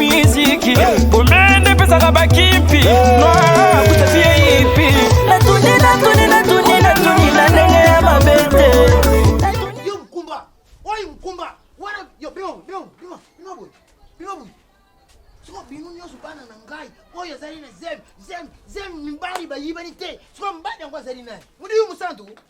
miziki komende pesaka bakimpi noakutafi ya ipi natuni natuni natuni natuni na ndenge ya mabe te yo mkumba oyo mkumba wana yo bino bino bino bino boye bino boye soko bino nyonso bana na ngai oyo azali na zemi zemi zemi mibali bayibani te soko mibali yango azali nani modiyo mosantu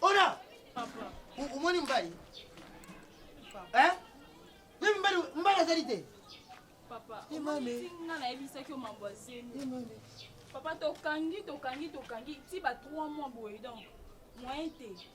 Ona! Omoni mbali? Eh? Mimi mbali mbali azali te. Papa, omoni nga nayebisaki yo mambo ya zemi. Papa tokangi tokangi tokangi ti ba 3 mois boye donc moyen te.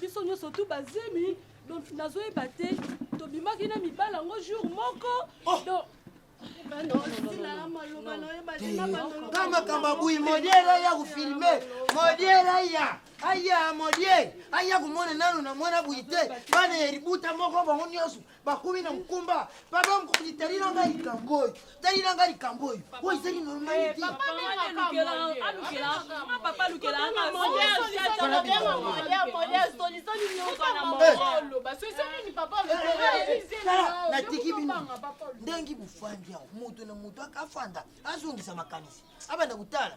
biso nyonso tu bazemi donc nazoyeba te tobimaki na mibala yango jour moko oh! donc nga makambo abuyi modiela ya kofilme modiela ya aya modie aya komona nano na mwana buyi te bana ya libuta moko bango nyonso bakomi na mokumba papa mokonzi talila ngai likambo oyo talila ngai likambo oyo oyo ezali normalite natiki bino ndenge bofandi yango moto na moto akafanda azongisa makanisi abanda kotala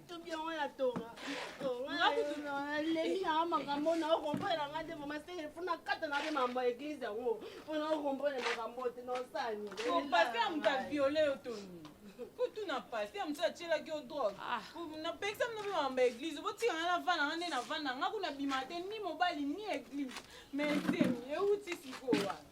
kutu na pasi ya mosusu atyelaki yo drogue ah. napekisa mino mpe mambo ya eglize botika ngai navanda nga nde navanda nga kuna bima te ni mobali ni eglize mais zemi euti sikoyo wana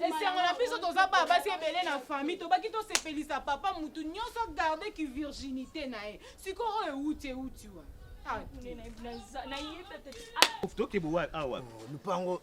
esengo na biso toza baa basi ebele na famille tobaki tosepelisa papa motu nyonso agarde ki virginité na ye sikoyo oyo euti euti wa tokebo awa lupango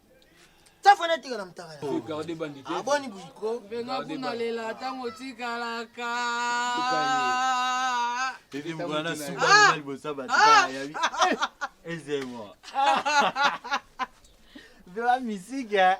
safana tika na mutaka na garde bandi te aboni buiko benga kuna lela tango tikalaka tete mwana suka na libosa ba tika ya bi ezemo Vela misika.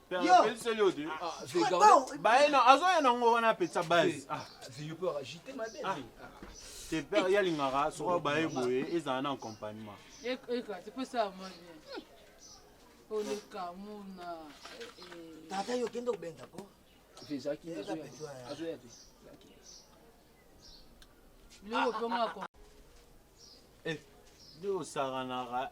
azoya nango wana apesa base te père ye alingaka soki baye boye ezala na accompagnement olekamuna tata yo okende kobenga ko biloko mpe ngako nde osakanaka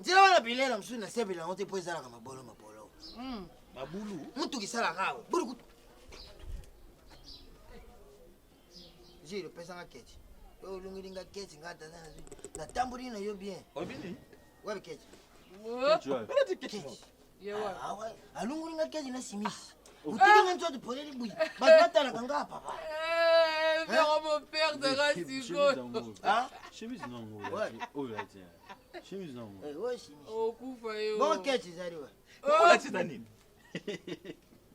nzela wana bilei na mosusu nasepela yango te mpo ezalaka mabolo mabolo hmm. mabulu motuka esalaka awa bulukutu jile opesanga keti oyo olongeli nga keti nga tata natamboli na yo bien obini wapi keti alungoli nga kezi na simisi otiki nga nzoto poleli buyi bato batalaka nga papa vero moperdaka sikoyo okufa yo boketi ezali wa olatisa nini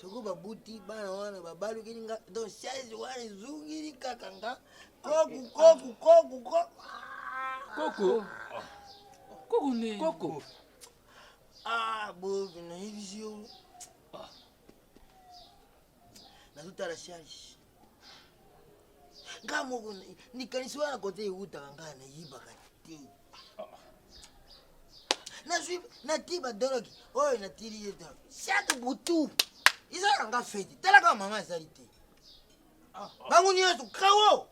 soko babuti bana wana babalukeli nga donc chaise wana ezungili kaka nga koku koku koku koku koku ne koku ah boki nayebisi yo nazotala charge nga moko likanisi wana kote ewutaka nga nayibaka te nazwi natii badoloki oyo natili ye doloki chaque butu eza na nga feti talaka mama azali te ah. bango nyonso kawo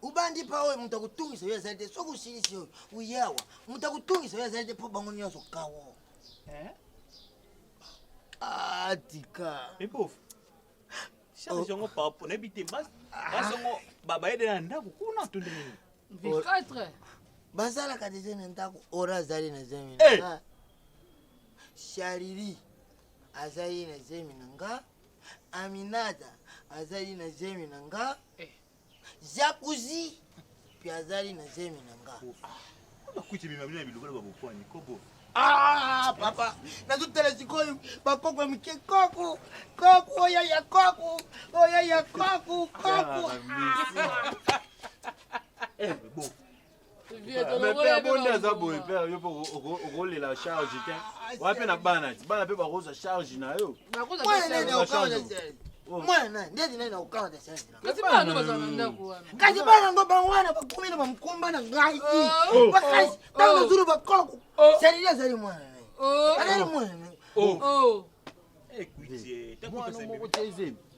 ubandi pa oyo moto akotungisa yo azali te soki osilisi oyo uyawa moto akotungisa yo azali te mpo bango nyonso kawo eh? Ah, tika. Mais pauvre. Charge yango par rapport na bite bas. Bas yango baba ede na ndako kuna to ndenge nini? V4. Bazalaka deja na ndako ora azali na zemi na nga. Chariri azali na zemi na nga. Aminata azali na zemi na nga. Jacuzzi mpe azali na zemi na nga. Bakuti bima bino ya bilobela ba bokwani kobo. Ah, papa, nazotala sikoyo bakoko ya mike koko koko oya ya koko oya ya koko koko. Eh, mepe abonde aza boye mpe yo mpe okolela charge te wana mpe na bana ti bana mpe bakozwa charge na yo mwana ndeti nai na kokanga na sese kasi bana bazala na ndako wana kasi bana yango bango wana bakomi na bamkomba na ngai bakasi ntango nazulu bakoko serili azali mwana nai azali mwana nai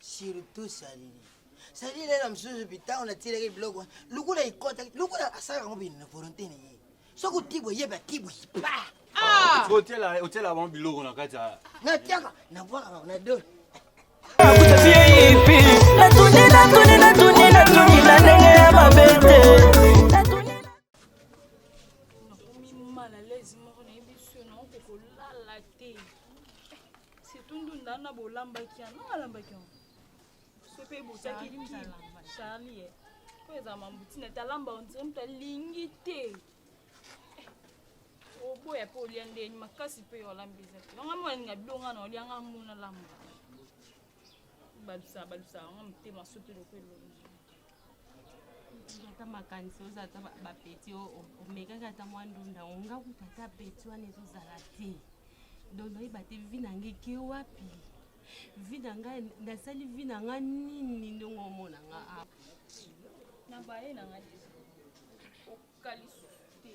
surtout salili salili lela mosusu bitango natilaki biloko lokola ekota lokola asalaka ngo bino na volonté na ye soki otibwa yeba tibwa pa ah! otyela bango biloko na kati ya natyaka nabwakaka na dole natuni natuni natuni natuni na ndenge ya mabe te surtout ndunda na bolambaki yango nanga alambaki yango so mpe botaki charli ye po eza mambutina te alamba ondire moto alingi te oboya mpe olia ndeni makasi mpe olambi eza te nanga mwana ninga bilonga na olia nga mona lamba balusa balusa yango motema soki lokola elongi ata makanisi oza ata bapeti omekaki ata mwa ndunda yango nga kuta ata peti wana ezozala te donc nayeba te vi na ngai ke wapi vi na ngai nasali vi na ngai nini ndenge omona nga a ah. na baye na ngai okalisusu te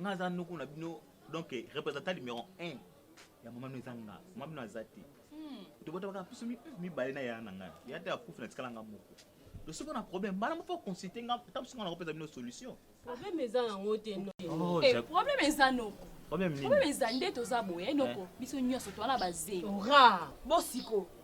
nga aza noko na bino donc représentant numéro 1 ya mama bino eza nga mama bino aza te hmm. tobotabaka biso mibale na yaya na ngai ya te akufi na tikala nga moko to soki na problème mbala moko consulte nga ta biso nga nakopesa bino solution problème eza yango te oh, eh, problème eza noko problème eza nde toza boye eh, noko eh. biso nyonso towana bazeli bosiko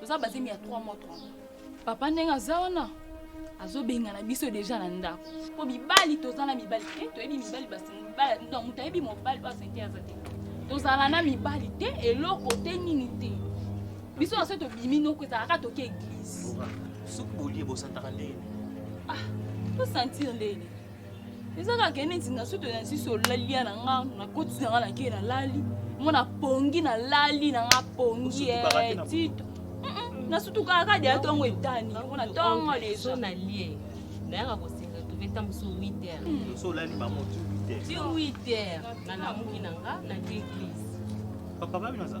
toza bazemi ya 3 mois 3 mois papa ndenge aza wana azobengana biso deja na ndako mpo mibali toza na mibali te toyebi mibali donc moto ayebi mobali oyo asente aza te tozala na mibali te eloko te nini te biso na so tobimi noko ezalaka toke eglise soki bolie bosantaka ndenge ah, tosentir ndenge eza kaka neti na soto na nsiso olalia na nga nakotisi na nga na kei nalali mo na pongi nalali na nga pongi eh, tito nasutukaka kadi ya ntongo etani yango na ntongo leso nalie nayaka kosenga toke ta mosu 8 heures olali bango ti 8 heures ti 8 heures nalamuki na nga na ti eglise papa babi naza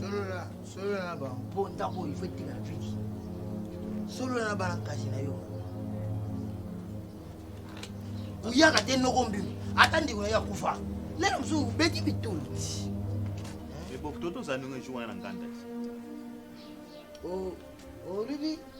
solola solola na bango mpo ndako oyo ifo etikala vidi solola na bana kasi na yo oyaka te noko mbimo ata ndeko na yo akufa lelo mosusu obeti bitoli eboktoto ozali ndenge ejuwana na nganda olobi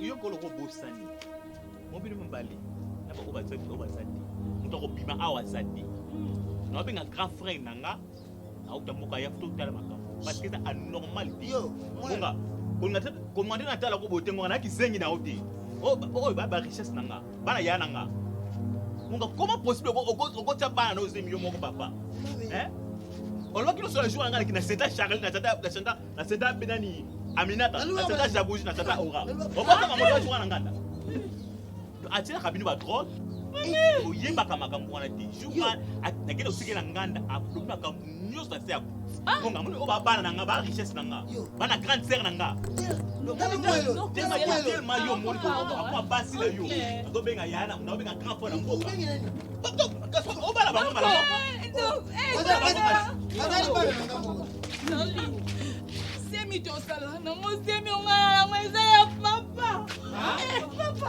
yo kolo kobosani mobili mobali na bango baza te oyo baza te moto akobima awa aza te naobenga grand frère na nga auta mboka ya to tala makambo parce que eza anormal te bonga kolinga te natala ko boye te ngonga na kizengi na yo te oyo ba richesse na nga bana ya na nga munga comment possible okotya bana na ozemi yo moko papa eh? olobaki loso na jour na ngai na seta charlie na tata na seta na seta mpe nani aminata na seta jabuji na tata ora obotaka moto ya jour na nganda atyelaka bino badroge oyebaka makambo wana te jour akende osukela nganda alobi makambo nyonso na se ya bonga moni oyo babana na nga ba richesse na nga bana grande sere na nga telema yo moni akoma basi na yo azobenga yaya na obenga grand fo na mboka obala bango malamusemi tosala nango semi onga yango eza ya papa papa